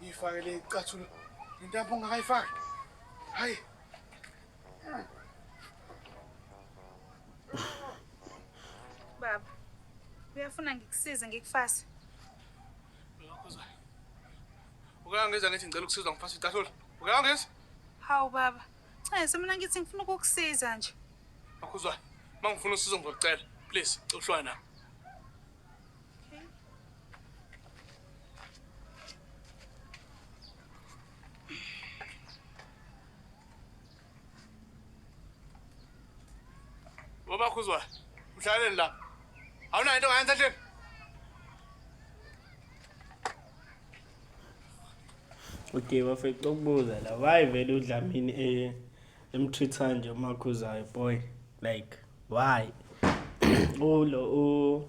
Ngiyifake le icathulo. Intambo ungakayifaki. Hayi. Baba, uyafuna ngikusize ngikufase? Ukangeza ngithi ngicela ukusizwa ngifase icathulo. Ukangeza? Hawu baba, Nxese mina ngithi ngifuna ukukusiza nje. Makhuzwayo, mangifuna usizo ngizocela. Please, uhlwana. Baba Khuzwa, mhlaleni la. Awunayo into ngayenza nje. Okay bafethu ukubuza la why vele uDlamini eh emtreat kanje uMakhuzayo boy like why ulo u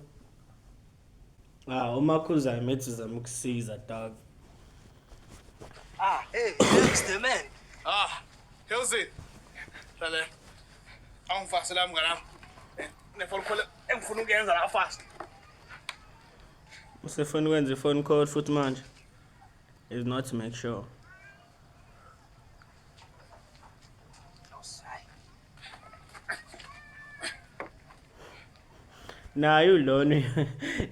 ah umakhuza emethi zama ukusiza dog Ah, hey, thanks the man. Ah, how's it? Lale. Angifase la mngana. Nefona khona engifuna ukuyenza la fast. usefoni kwenza ifoni call futhi manje is not to make sure naye ulona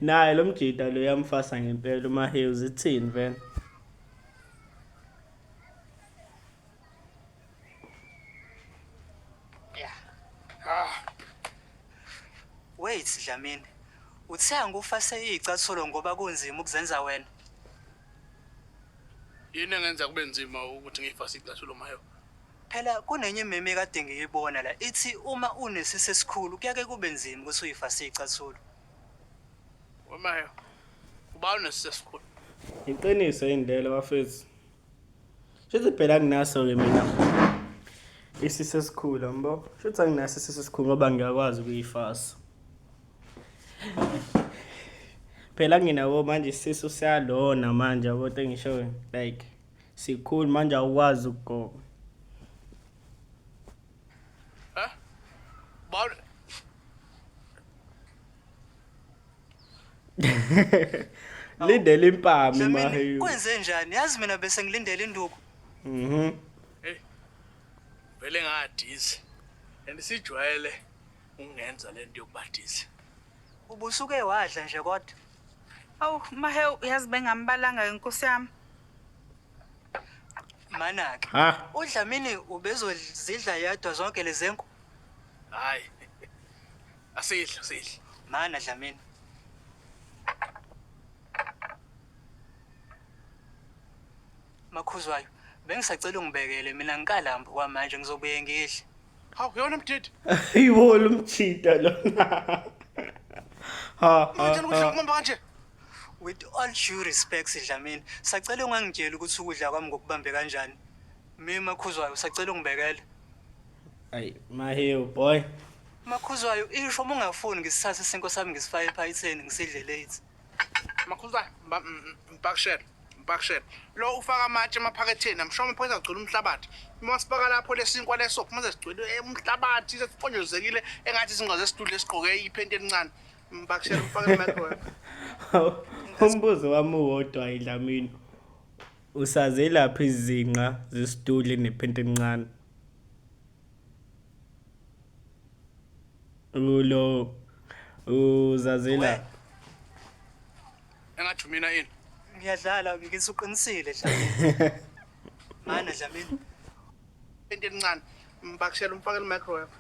naye lo mjita lo yamfasa ngempela umahews ithini vele wait dlamini uthe angikufase iyicathulo ngoba kunzima ukuzenza wena Yini engenza kube nzima ukuthi ngiyifase icathulo mayo? Phela kunenye imeme ekade ngiyibona la ithi uma unesisi esikhulu kuyake kube nzima ukuthi uyifase icathulo. Wemayo, ubani unesisi esikhulu? Iqiniso yini lelo bafethu? Shuthi phela nginaso-ke mina isisi esikhulu yambo. Shuthi anginaso isisi esikhulu ngoba ngiyakwazi ukuyifasa. phela ngina bo manje isisu siyalona manje yabo into engishoyo like sikhulu manje awukwazi ukugoba Huh? Bal lindele impami Dlamini, maheyu kwenze njani yazi mina bese ngilindele induku mhm vele ngadizi and sijwayele Ungenza lento yokubhadisa. Ubusuke wadla nje kodwa. Awu mahe uyazi bengambalanga inkosi yami. Manaka. Ha. UDlamini ubezozidla yedwa zonke lezenku. Hayi. Asidla, sidla. Mana Dlamini. Makhuzwayo, bengisacela ungibekele mina ngikalamba kwamanje ngizobuye ngidle. Hawu yona mdidi. Yiwo lo mjida lona. Ha. Manje ukuthi ukumamba kanje. With all due respect Sidlamini, sacela ungangitsheli ukuthi ukudla kwami ngokubambe kanjani. Mina makhuzwayo sacela ungibekele. Ay, mahewu boy. Makhuzwayo isho uma ungafuni ngisithathe isinko sami ngisifake ephayitheni ngisidle late. Makhuzane, mba- m- m- mpakishela, mpakishela. Lo ufaka amatshe emaphaketheni, amshoma phoyisa agcwele umhlabathi. Uma sifaka lapho lesinkwa leso, uma sesigcwele eh, umhlabathi, sesiponjozekile, engathi izinqa zesidudla esigqoke iphenti elincane. Mpakishela, ufake i-microwave. umbuzo wami uwodwa idlamini usazelaphi izinqa zesidudle nephenti elincane Ulo uzazela engathi mina yini ngiyadlala ngikise uqinisile dlamini mana dlamini into encane mbakishela umfakela microwave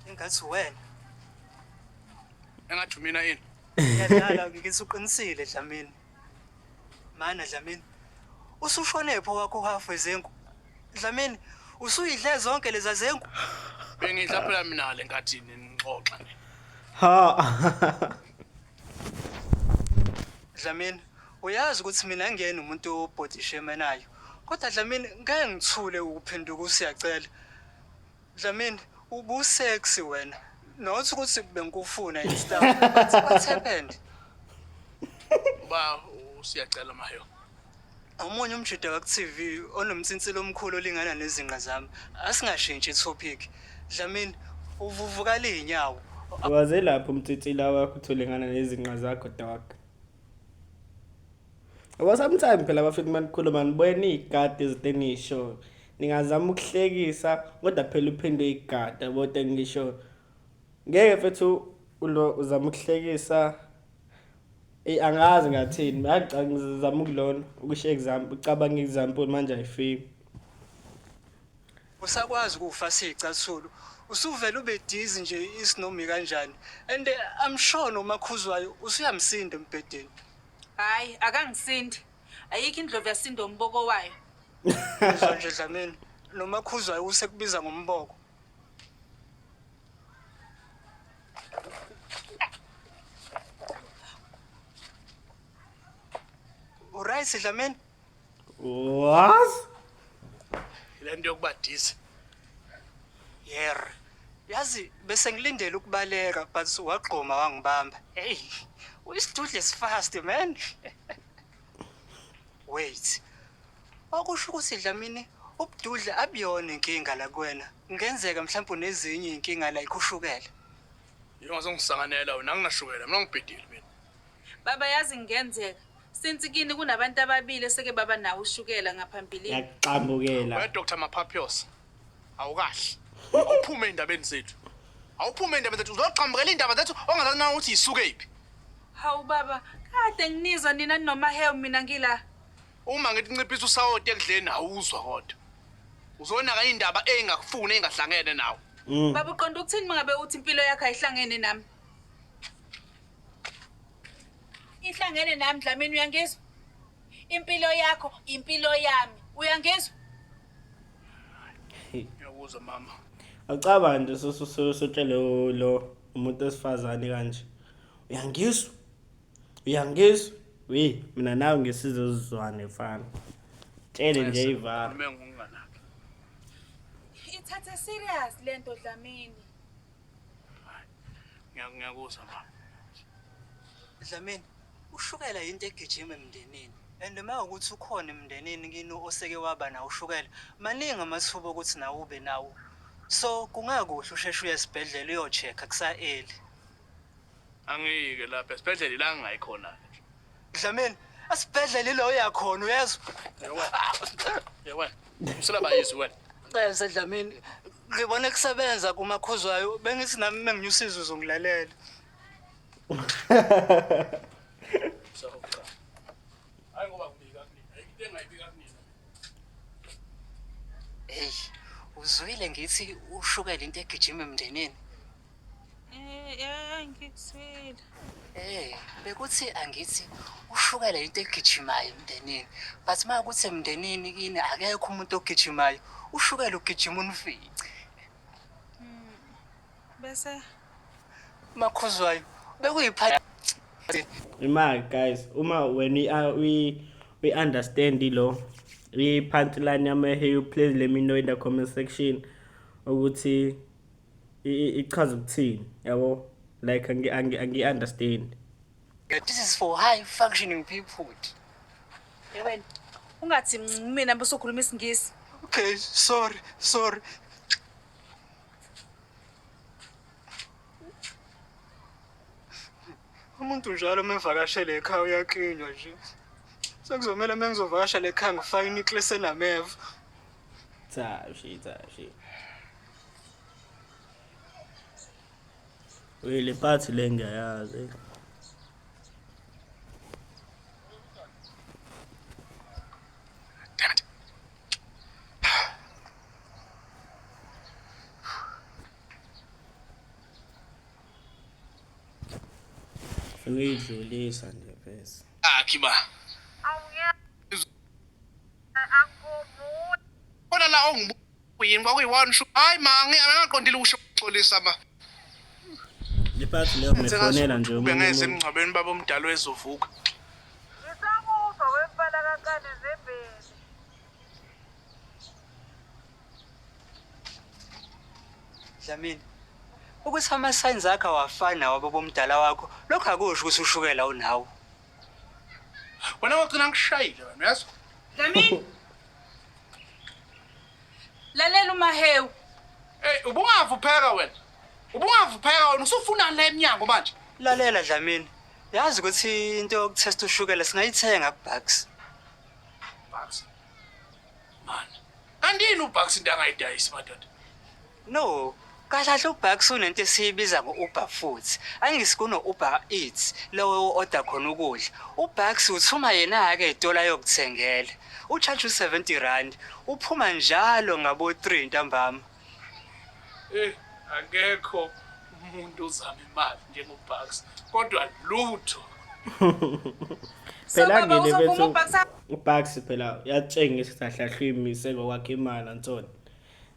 engathi wena engathi mina yini ngiyadlala ngikise uqinisile dlamini Mana Dlamini. Usushone pho wakho half wezengu. Dlamini, usuyidle zonke leza zengu. Bengidla phela mina le nkathi nixoxa nina. Ha. Dlamini, uyazi ukuthi mina ngiyena umuntu obhodishe emenayo. Kodwa Dlamini ngeke ngithule ukuphenduka usiyacela. Dlamini ubu sexy wena. Not ukuthi bengikufuna and stuff. But what happened? Uba usiyacela mayo. Omunye umjida waku TV onomtsintsilo omkhulu olingana nezinqa zami. Asingashintshi topic. Dlamini uvuvuka linyawo. Waze lapho umtsitsila wakho utholengana nezinqa zakho dog. Ngoba sometimes phela bafethu uma nikhuluma nibuye niyigadi izinto eniyishoyo ningazama ukuhlekisa kodwa phela uphinde uyigada bote ngisho ngeke fethu ulo uzama ukuhlekisa Ey angazi ngathini ngagcanga ngizama ukulona ukusho example ucabanga example manje ayifiki usakwazi ukufa sicasulu usuvele ube dizi nje isinomi kanjani and I'm sure nomakhuzwayo usuyamsinda embhedeni Hayi, akangisindi. Ayikho indlovu yasinda umboko wayo. Uzwa nje Dlamini, noma khuzwayo usekubiza ngomboko. Uright Dlamini? was le nto yokuba disi yer yazi bese ngilindele ukubaleka but wagqoma wangibamba hey uyisidudle sifast man wait okusho ukuthi dlamini ubududle abuyona inkinga la kuwena kungenzeka mhlawumbe unezinye iy'nkinga la ikhushukela yingazongisanganela wena anginashukela mina ngibhidile mina baba yazi kungenzeka Since kini kunabantu ababili eseke baba nawo ushukela ngaphambilini. Yakuxambukela. Wena Dr Maphaphiyos awukahle. Awuphume endabeni zethu. Awuphume endabeni zethu uzoxambukela indaba zethu ongazazi na ukuthi yisuke iphi. Hawu baba, kade nginizwa nina noma hew mina ngila. Uma ngithi nciphisa usawoti ekudleni awuzwa kodwa. Uzonaka indaba engakufuni engahlangene nawe. Baba uqonda ukuthini mangabe uthi impilo yakho ayihlangene nami? ihlangene nami Dlamini uyangizwa impilo yakho impilo yami uyangizwa ngiyakuzwa mama acaba nje sosotshele lo umuntu esifazane kanje uyangizwa uyangizwa we mina nawe ngesize uzizwane mfana tshele nje ivara ithathe serious lento Dlamini ngiyakuzwa baba dlamini ushukela yinto egijima emndenini and uma ukuthi ukhona emndenini kini oseke waba nawo ushukela maningi amathuba okuthi nawe ube nawo so kungakuhle usheshe uye esibhedlela uyochecka kusa-eli angiyike lapha esibhedlela ila ngingayikhona-ke Dlamini, esibhedlela ilo oya khona uyezwa? Yewe. Usela bayizwe wena. Celse Dlamini, ngibone kusebenza kumakhuzwayo bengithi nami menginyusiza uzongilalela. So cha. Hayi ngoba kubika kunina. Into engayibika kunina. Hey, uzwile ngithi ushukela into egijima emndenini. Eh, eh, ngikuswile. Eh, bekuthi angithi ushukela into egijimayo emndenini. But uma ukuthi emndenini kini akekho umuntu ogijimayo, ushukela ugijima unifice. Hmm, bese makhuzwayo bekuyiphatha imali guys uma wena uyi-understand lo i-punchline yama-heyo please let me know in the comment section ukuthi ichaza ukuthini yabo like angi-understand this is for high functioning people yabona ungathi mina besokhuluma isingisi okay sorry sorry umuntu njalo uma evakashele ekhaya uyaklinywa nje sekuzomele uma ngizovakashela ekhaya ngifake inikle senameva Cha she cha she. Uye le part le ngiyayazi. Uyidlulisa nje phezulu. Akhi ba. khona la ongibuyini kwakuyi-one shu hayi ma angingaqondile ukusho uxolisa ma bengenze emngcwabeni baba omdala wezovuka ngisamuva wempala kakane zembeni dlamini ukuthi ama-signs akho awafani nawababa omdala wakho lokho akusho ukuthi ushukela unawo Wena wagcina ngishayile wena yazi. Dlamini. Lalela uMahewu. Hey ubungavupheka wena. Ubungavupheka wena usufuna la emnyango manje. Lalela Dlamini. Yazi ukuthi into yokutesta ushukela singayithenga kuBucks. Bucks. Man. Kanti yini uBucks into angayidayisi madoda? No, kahle kahle uBucks kunento esiyibiza ngo-Uber Foods. Angisi kuno-Uber Eats lowo o-oda khona ukudla. UBucks uthuma yena-ke etola yokuthengela. Utshaje u-70 rand, uphuma njalo ngabo-3 ntambama. Eh, akekho umuntu ozama imali njengoBucks, kodwa lutho. phela ngene bethu uBucks phela uyatshengisa ukuthi ahlahlwe imise ngokwakhe imali antoni.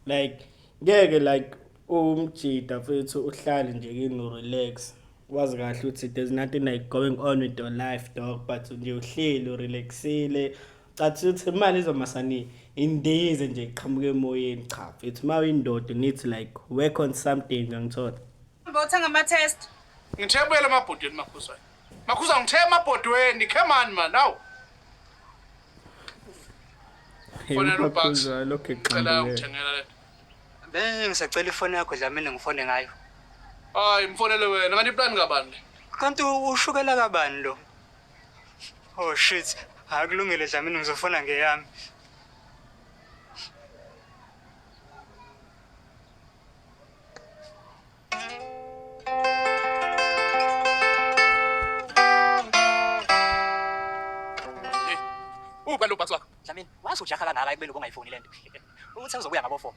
like ngeke like umjida mfethu uhlale nje kini urelax wazi kahle ukuthi there's nothing like going on with your life dog but nje uhleli urelaxile cathi ukuthi imali izomasani indize nje iqhamuke emoyeni cha mfethu uma uyindoda nithi like work on something ngangithola Bawuthenga ama-test. Ngithebele amabhodweni makhuzwayo. Makhuza ngithe amabhodweni, come on man, awu. Fonela uBucks. Ngicela ungithengela le. Be ngisacela ifoni yakho Dlamini ngifone ngayo. Hayi mfonele wena, kanti iplan kabani le? Kanti ushukela kabani lo? Oh shit, akulungile Dlamini ngizofona ngeyami. Uphi lo bhakisi wakho? Dlamini, wazi ujaha kangaka ekubeni ubungayifuni le nto. Uthi uzobuya ngabo four.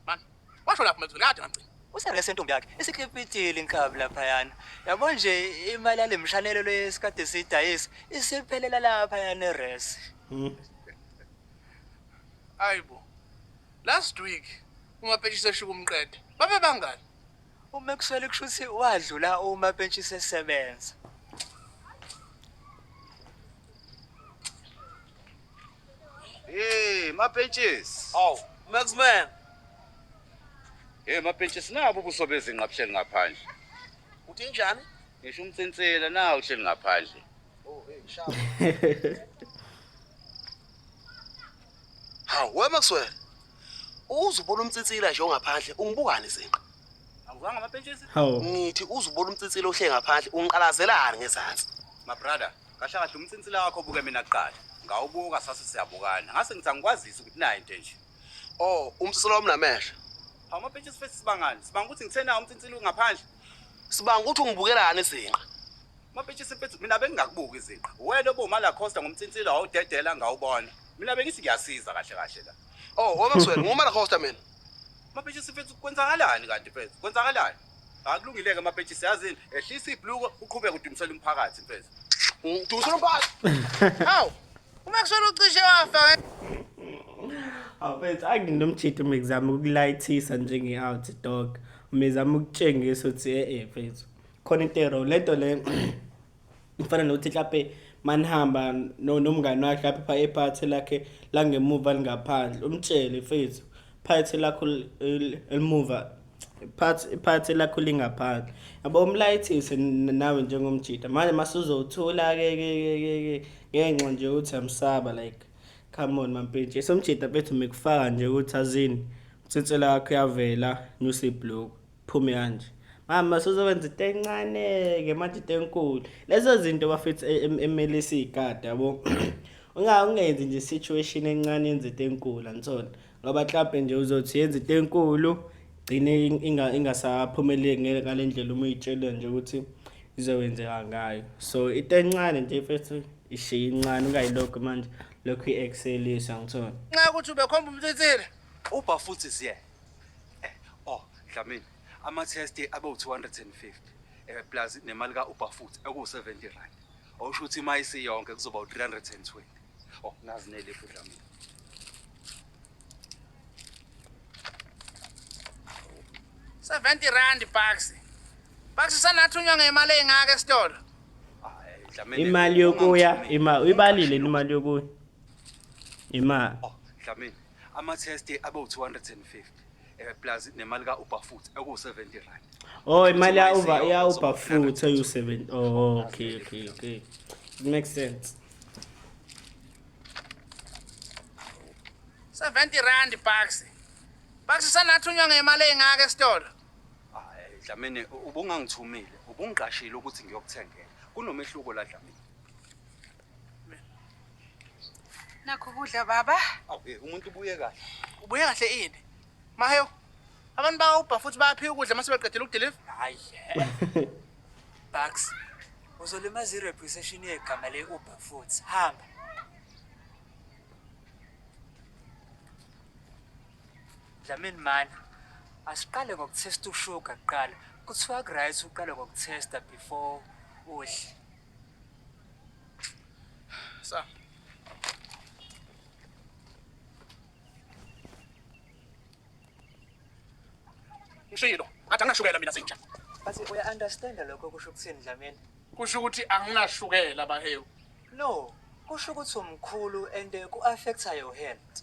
Man, washo lapho mezulu kade ngamgcina. Usele sentombi yakhe isikhipitile inkabi laphayana. Yabo nje imali yale mshanelo lesikade sidayisa isiphelela laphayana eres. Ayibo. Last week umapentshisi eshuka umqede. Babe bangani? Uma ekuswele kusho ukuthi wadlula uma pentshi sesebenza. Hey, mapentshisi. Aw, Maxman. Hey, mapentshisi nabo ubuso bezinqa buhleli ngaphandle. Uthi njani? Ngisho umtsintsela nawo uhleli ngaphandle. Oh, hey, shaba. Hawu we Maxwell. Uzubona umtsitsila nje ongaphandle ungibukani izinqa. Awuzanga amapentshisi? Hawu. Ngithi uzubona umtsitsila ohle ngaphandle ungiqalazelani ngezansi. My brother, kahle kahle umtsitsila wakho buke mina kuqala. Ngawubuka sase siyabukana. Ngase ngithi angikwazisi ukuthi nayi into enje. Oh, umtsitsila wami namehlo. Hawu amapentshisi fesi sibangani? Sibanga ukuthi ngithe na umtsitsila ungaphandle. Sibanga ukuthi ungibukelani izinqa. Mapetshisi mfethu mina bengingakubuki iziqa. Wena obuma la Costa ngomtsintsilo awudedela ngawubona. Mina bengithi ngiyasiza kahle kahle la. Oh, oh Maxwell, nguma la Costa mina. Mapetshisi mfethu kwenzakalani kanti mfethu? Kwenzakalani? Akulungileke mapetshisi yazini ehlisa ibluko uqhubeke udumisela umphakathi mfethu. Udumisela umphakathi. Hawu. UMaxwell ucishe wafa. Awufethu anginomjitha uma ngizama ukulayithisa njenge-out dog. Uma ngizama ukutshengisa ukuthi e-e mfethu. khona intero lento le ifana nokuthi mhlawumbe manihamba nomngani wakhe lapho pha ephathi lakhe langemuva lingaphandle umtshele mfethu phathi lakho elimuva iphathi lakho lingaphandle yabo umlayithise nawe njengomjita manje masuzothula-ke ngenxa nje ukuthi amsaba like come on mampintshi somjita bethu mikufaka nje ukuthi azini utsinsela yakho yavela nyusa ibhloku phume kanje mama sozowenza into encane-ke manje into enkulu lezo zinto bafethu e, e, emele siyigade yabo ungenzi nje situation encane yenza into enkulu angisona ngoba mhlawumpe nje uzothi yenza into enkulu gcine ingasaphumeleli ngeke ngale ndlela uma uyitshele nje ukuthi izokwenzeka ngayo so into encane nje mfethu ishiye incane ungayilokhu manje lokhu i-excelisa ngithona nxa ukuthi ubekhomba umthinsile ubha futhi siye Oh, Dlamini, ama-test abe u-250 eh plus nemali ka-Uber futhi ekuwu-70 rand. Awusho ukuthi ima isiyonke kuzoba u-320. Oh, nazi nelifu Dlamini. Seventy rand bucks. Bucks sanathunywa ngemali engaka esitolo. Ah, eh, Dlamini. imali yokuya ungamthumi. ima uyibalile imali yokuya ima Oh, Dlamini, ama-test abewu-250 eh, plus nemali ka-uber futhi ekuwu-70 rand oh imali ya-uber ya-uber futhi eyu-7 oh okay okay okay it makes sense 70 rand bucks bucks sanathunywa ngemali eyingaka esitolo hayi dlamini ubungangithumile ubungiqashile ukuthi ngiyokuthengela kunomehluko la dlamini Nakho kudla baba. Awu eh, umuntu ubuye kahle. Ubuye kahle ini? Maheyo. Abantu bawubha futhi bayaphiwa ukudla mase beqedela ukudeliver. Hayi. Bax. Uzolimaza ireputation yegama le Uber futhi. Hamba. Dlamini mani. Asiqale ngokuthesta ushuga kuqala. Kuthiwa kuright uqale ngokuthesta before udle. Sa. Ngishilo, ngathi anginashukela mina sinja. Bathi uya understand lokho kusho ukuthini Dlamini? Kusho ukuthi anginashukela bahewu. No, kusho ukuthi umkhulu and eh, ku affecta your health.